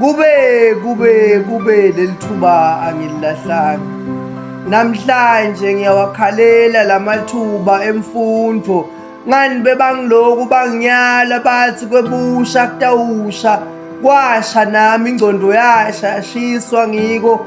kube kube kube lelithuba angililahlanga namhlanje ngiyawakhalela lamathuba emfundo ngani bebangiloku banginyala bathi kwebusha kutawusha kwasha nami ingcondo yasha yashiswa ngiko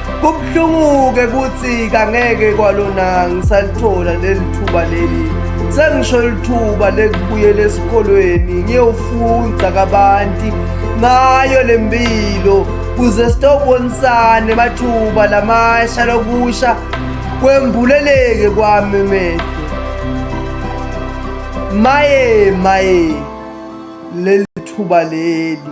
Kubuhlungu-ke ukuthi kangeke kwalona ngisalithola leli thuba leli sengisho lithuba lekubuyela esikolweni ngiyofunda kabanti ngayo le mpilo kuze sitobonisane mathuba lamasha lokusha kwembuleleke kwami mehlo maye maye leli thuba leli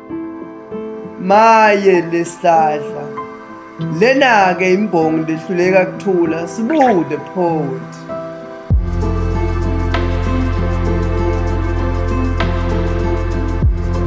maye lesihlahla lena-ke imbongi lehluleka kuthula sibude poet